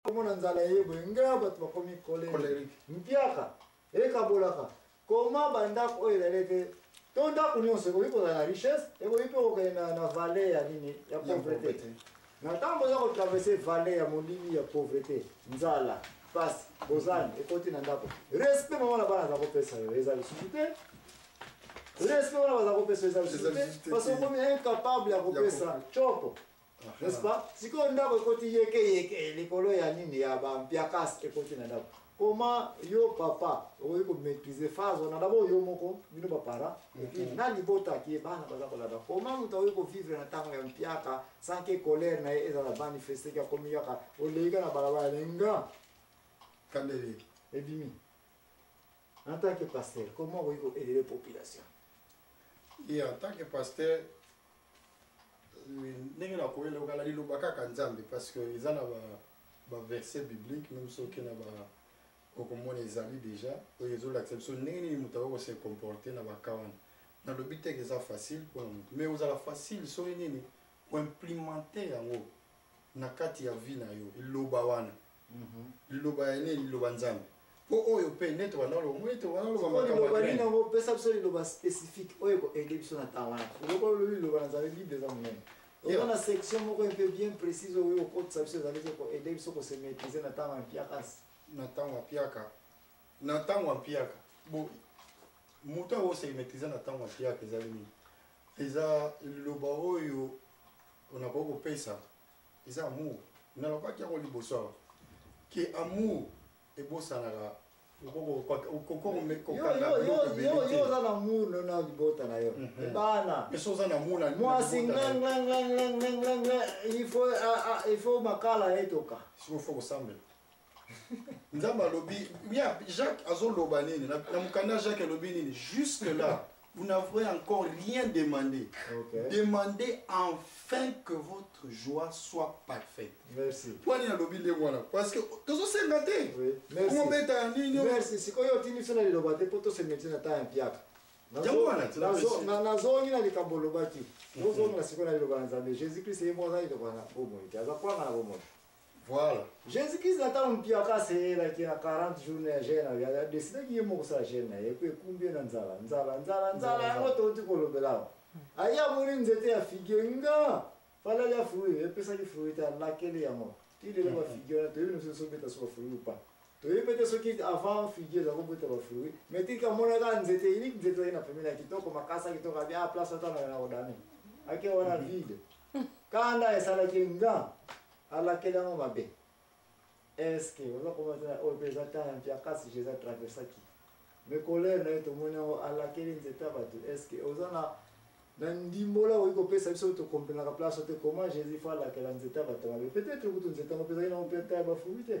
komona nzala eye boye ngeya bato bakomi kolere mpiaka ekabolaka koma bandako oyo ezali ete to ndako nyonso ekoki kozala na richesse ekoki mpe kokende na valle ya nini ya pauvrete na ntango oza kotraverse valle ya molili ya pauvrete nzala mpasi bozani ekoti na ndako respect mama na bana aza kopesa yo eza lisusu te respect wana baza kopesa eza lisusu te parce okomi incapable ya kopesa coko n'est-ce pas sikoyo ndako ekoti yeke yeke likolo ya nini ya bampiakas ekoti na ndako comment yo papa okoki komaîtrise phase wana dabord yo moko bino baparent epuis mm-hmm. na libota ki bana baza kolanda comment moto akoki kovivre na ntango ya mpiaka sans ke colère na ye ezala manifeste ki akomi kaka oleika na balabala lenga kandele ebimi en tant que pasteur comment okoki koelele population ye en tant que pasteur ndenge na koyela okala liloba kaka nzambe parce que eza na ba ba verset biblique même soki na ba okomona ezali déjà oyo ezolakisa biso ndenge nini moto akoki kose comporte na baka wana nalobi teke eza facile mpona moto mais ozala facile soki nini oimplimante yango na kati ya vie na yo eloba wana Mhm. liloba ya nini liloba nzambe mpo oyo mpe neti wanaloba omoni te wanaloba nini yango opesa biso liloba spécifique oyo ekoaide biso na ntango wana soki olobi liloba na nzambe bible eza monene oza na section moko mpe bien précise oyo okotisa biso ezali te koaide biso kose maîtrise na ntango ya mpiaka na ntango ya mpiaka na ntango ya mpiaka bo moto yango ose maîtrise na ntango ya mpiaka ezali nini eza liloba oyo onakoki kopesa eza amour nalobaki yango liboso awa ke amour ebosanaka oza na munu na libota na yo bana mwasi nganganganganganganga il faut makala etoka nzambe alobi ya jacques azoloba nini na na mokanda jacques alobi nini jusque là vous n'avez encore rien demandé Ok. demandez enfin que votre joie soit parfaite merci mpo nini alobi ndenge wana parce que tozosenga te Oui, merci. komobeta ya nini oyo. merci sikoyo otindi biso na liloba te mpo tosemeti na ntango ya mpiaka Nazo- Yango wana, tina nazo- merci. na- nazongi na likambo olobaki ozongi na sikoyo na liloba na nzambe jésus christ ye moko aza liloba na bomoi te aza kwanga na bomoi Voilà. Jesus Christ na ntango mpio akaselelaki na 40 jours na ya jeune adesidaki ye moko kosala jeune na ye mpe ekumbi ye na nzala nzala nzala nzala yango touti kolobela awa aye amoni nzete ya figie nga fala lya fruit epesaki fruit te alakeli yango ti lelo bafigie wana toyebi noso esobeta so bafruit ou pas toyebi mpe te soki avant figie eza kobota bafruit mais tika amonaka nzete eliki nzete ezali na pemeli ya kitoko makasa kitoko abi a ah, place atana na kodame ake wana vide kanda esalaki nga alakeli yango mabe eske oza komona te na oyo mpe eza temps ya mpiakasi je eza traversaki me colere na ye tomoni yango alakeli nzete ya bato eske oza na na ndimbola okoki kopesa biso tokomprenaka place te comment jésus fo alakela nzete ya bato mabe peut-être kutu nzete yango mpe ezalaki nango mpe ata ya bafumi te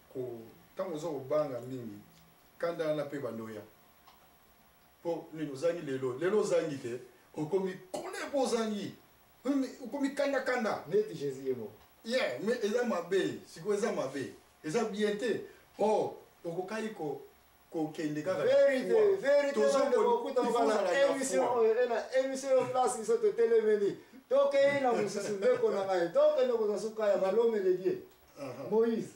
ko ntango oza kobanga mingi kanda wana mpe ebanda oya mpo nini ozangi lelo lelo ozangi te okomi kole mpo ozangi okomi kandakanda neti jésus ye moko ye me eza mabe sikoyo eza mabe eza bien te o oh, okokaki ko kokende kaka émission oyo ena émission yo place biso totelemeli tokei na mosusu ndeko na ngai tokende kozwa suka ya balomeleli Uh-huh. Moïse.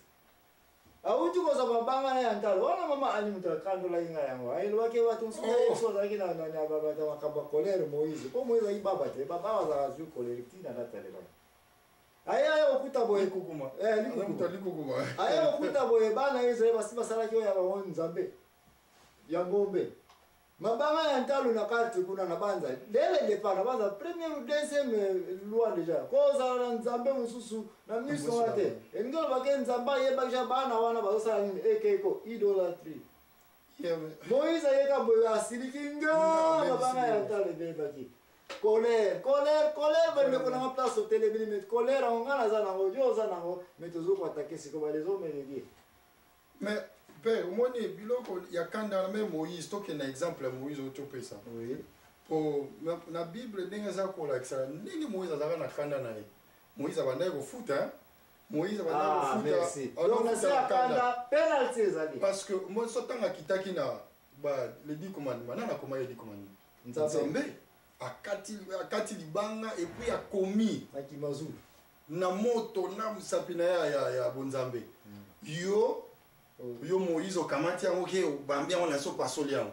awuti kozwa mabanga na ya ntalo wana mama ani moto akandolaki ngai yango elobaki bato mosusu oh. yesu azalaki na makambo ya kolere moïse mpo moïse azalaki baba te baba bazalaka azwi kolere ntina natalelaki aya ya okuta boye kukuma eh likuta likukuma aya okuta boye bana Israël basi basalaki oyo ya bango nzambe ya ngombe Mabanga ya ntalo na quartier kuna na banza dès le départ na banza première ou deuxième euh, loi déjà kozala na nzambe mosusu na miso wana te elingi oloba ke nzambe ayebaki ja bana wana bazosala nini ekeko idolatrie moïse ayeka boye asiliki nga mabanga ya ntalo ebebaki colère colère colère bandeko nanga place otelemeli me colère yango ngai naza nango yo oza nango me tozokoatake siko balezo omeledie mais pe omoni biloko ya kanda na meme moïse tokenda exemple ya moïse oyo topesa oui. po na, na bible ndenge eza kolakisa ndenge moïse azalaka na kanda na ye moïse abandaki kofuta moïse abandaki ah, kofuta penalty ezali parce que moi so ntango akitaki na ba le dix commandement nani akoma ye dix commandement nzambe akati libanga epuis akomi akimazulu na moto na mosapi na ya, ya, ya bonzambe mm. yo oh. yo moïse okamati yango ke obambi yango na so pasoli yango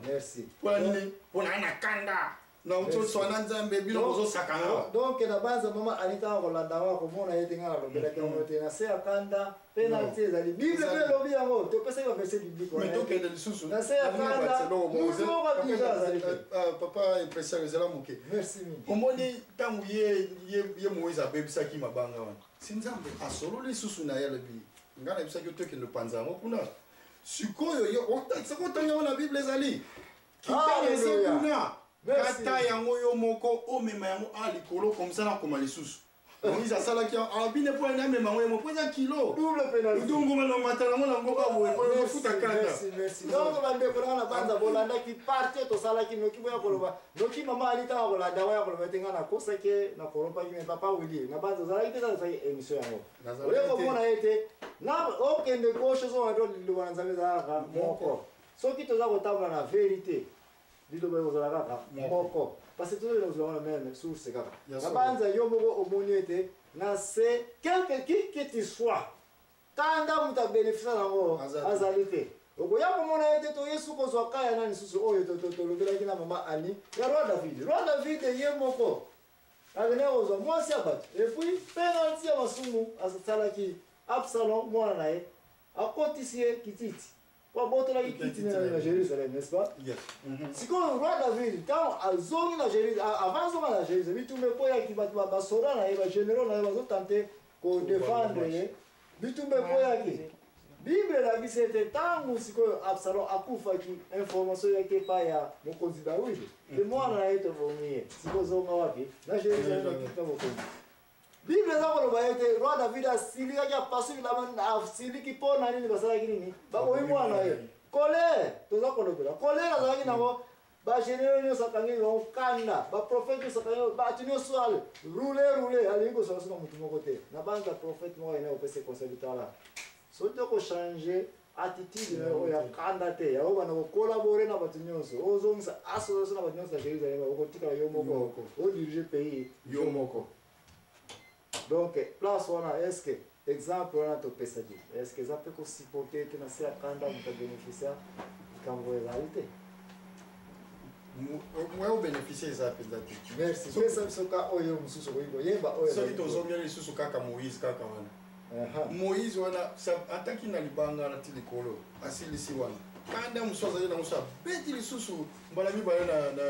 mpona nini mpona na kanda na ntoso wana nzambe bino bozosakana donc na banza mama anitaka kolanda yango akomona ye te ngai nalobelaki yango te na se ya kanda penalty ezali bible mpe elobi yango topesaki baverse biblique tokende lisusu na se ya kanda moto moko abika azali euh, euh, papa impression ezala moke omoni ntango ye moïse abebisaki mabanga wana si nzambe asololi lisusu na ye alobi ngai nayebisaki otokende opanza yango kuna sikoyo yo otakisaki otanga yango na bible ezali kitana eza kuna kata yango yo moko omema yango a likolo komisa nakoma lisusu Moïse asalaki yango abine mpo ene amema yango yemo mpo eza kilo udongo balomata yango na ngoba boye mpo efuta kanda donc bandeko nanga na banza bolandaki parti tosalaki noki boya koloba noki mama ali ntango kolanda yango ya koloba ete ngai nakosaki nakolopaki me papa wili na banza ozalaki te tazalaki émission yango oye komona ye te na okende gauche ozonga to liloba na nzambe ezalaka moko soki toza kotambola na verité liloba ekozala kaka moko parce tozo ekozala wana meme source kaka nabanza yo moko omoni ete na se quelque qui que tu sois kanda moto abénéficia nango azali te okoya komona ye te toye suki ozwa ka ya nani susu oyo tolobelaki na mama ani ya roi david roi david ye moko akende kozwa mwasi ya bato epuis penalti ya masumu asalaki absalom mwana na ye akotisi ye kititi Mpo abotolaki kiti na ye na Jerusalem, n'est-ce pas? Yes. Mhm. Sikoyo roi David ntango azongi na Jerusalem, a- avant azonga na Jerusalem, bitumba ekweyaki bato ba- basoda na ye, bageneraux na ye bazotante kodefendre ye, bitumba ekweyaki. Bible elakisi ete ntango sikoyo Absalom akufaki, information eyaki epai ya mokonzi Dawidi, te mwana na ye tobomi ye, sikoyo zonga wapi? Na Jerusalem, na kiti na bokonzi. bible eza koloba ete roi david asilikaki apasoli asiliki mpo na nini basalaki nini baboyi mwana ye kolere toza kolobela kolere azalaki nango bagenero nyonso akangeli bango kanda baprofete nyonso akangeli bato nyonso ale rule rule alingi kozala soka motu moko te na banza profete moko ayina kopesa conseil bitala soki okochange attitude na yo ya kanda te yango banda kokolabore na bato nyonso ozongisa association na bato nyonso na jérusalem okotikala yo moko odirige pays yo moko donc place wana est ce que exemple wana topesaki est ce que eza mpe kosupporte ete na se ya kanda moto abénéficia likambo ezali te moye obénéficie eza mpenza te merci pesa biso ka oyo mosusu okoki koyeba oyo soki tozongeli lisusu kaka moïse kaka wana moïse wana ataki na libanga wana ti likolo asilisi wana kanda mosusu azali na mosusu abeti lisusu mbala mibale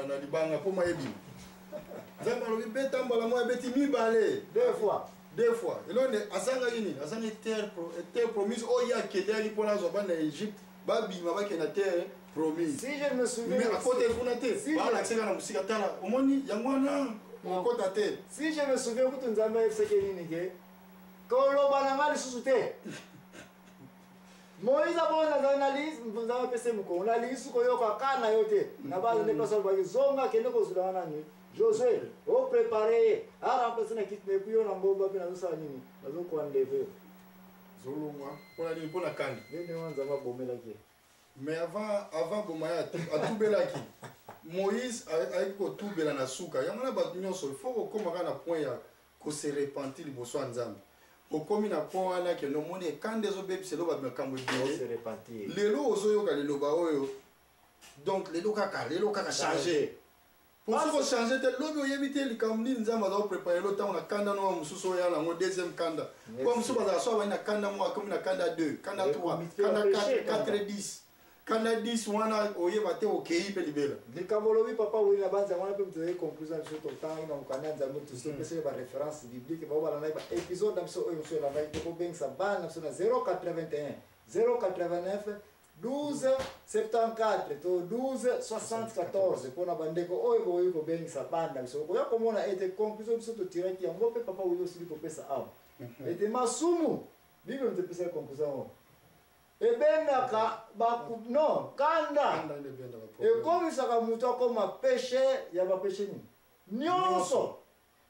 na libanga mpo mayebima nzambe alobi beta mbala moko abeti mibale deux fois deux fois eloko nde azangaki nini azangi terre eh, promise oyo ye akendaki mpo nazwa bana ya egypte babima bakende na terre promise si je me souviens mais akota kuna te balakisaka na mosika tala omoni yango wana okota te si je me souviens kutu nzambe ayebisaki nini ke koloba na ngai lisusu te moise abonda azali na lisi nzambe apesi mokongo na lisi koyoka ka na yo te na bana nde mpasi alobaki zonga akende kozula wana nini josue oprepare ye arampasi na kiti na epuis yo na ngomba mpe nazosala nini nazokoa ndeve zolongwa mpona nini mpona kani nde ndenge wana nzambe abomelaki ye mais avant avant boma ye atubelaki moïse ayaki kotubela na suka yango na bato nyonso il faut kokóma kaka na point ya ko se repentir liboso ya nzambe okomi na po wana ke nomoni ekanda ezobebisa elo bato makambo ebele lelo ozoyoka liloba oyo donc lelo kaka lelo kaka change po soki ochange te lobi oyebi te likambo nini nzambe azao prépare elo ntango na kanda noa mosusu oyo yana yango deuxième kanda po mosusu bazala so abandi na kanda moko akomi na kanda 2 kanda 3 kanda 4 4 10 kanda 10 wana oyeba te okei mpe libela likambo olobi papa weli na banza wana mpe moto ezali conclusion biso totangi na mokanda ya nzambe tosi opesa ye bareference biblique bao balandaki baepisode na biso oyo mosu elandaki te kobengisa bana na biso na 081 089 12 74 to 12 74 mpo na bandeko oyo bokoki kobengisa bana na biso okoya komona ete conclusion biso totiraki yango mpe papa weli osili kopesa awa mhm. ete masumu bible moto epesaki conclusion yango ebendaka baku no kanda ekomisaka moto akoma peshe ya bapeshe nini nyonso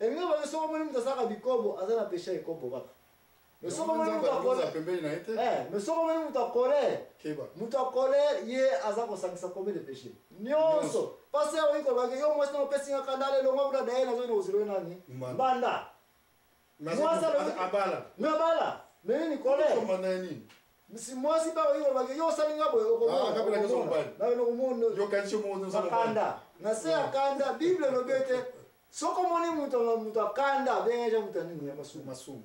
elingi baye soko omoni moto asalaka bikobo aza na peshe ya ekobo kaka mais soko omoni moto akole mais soko omoni moto akole moto akole ye aza kosangisa kombe de peshe nyonso pasi ya oyi kolobaki yo mwasi na opesi nga kanda ale elongo kuna daye nazoi na kozilo nani mbanda mwasi abala na bala na nini kolesomba na nini misi mwasi ba oyo bake yo osali nga boye okomonakanda ah, na se ya kanda bible elobi ete soko omoni moto moto akanda abengeje moto ya nini ya masumu masumu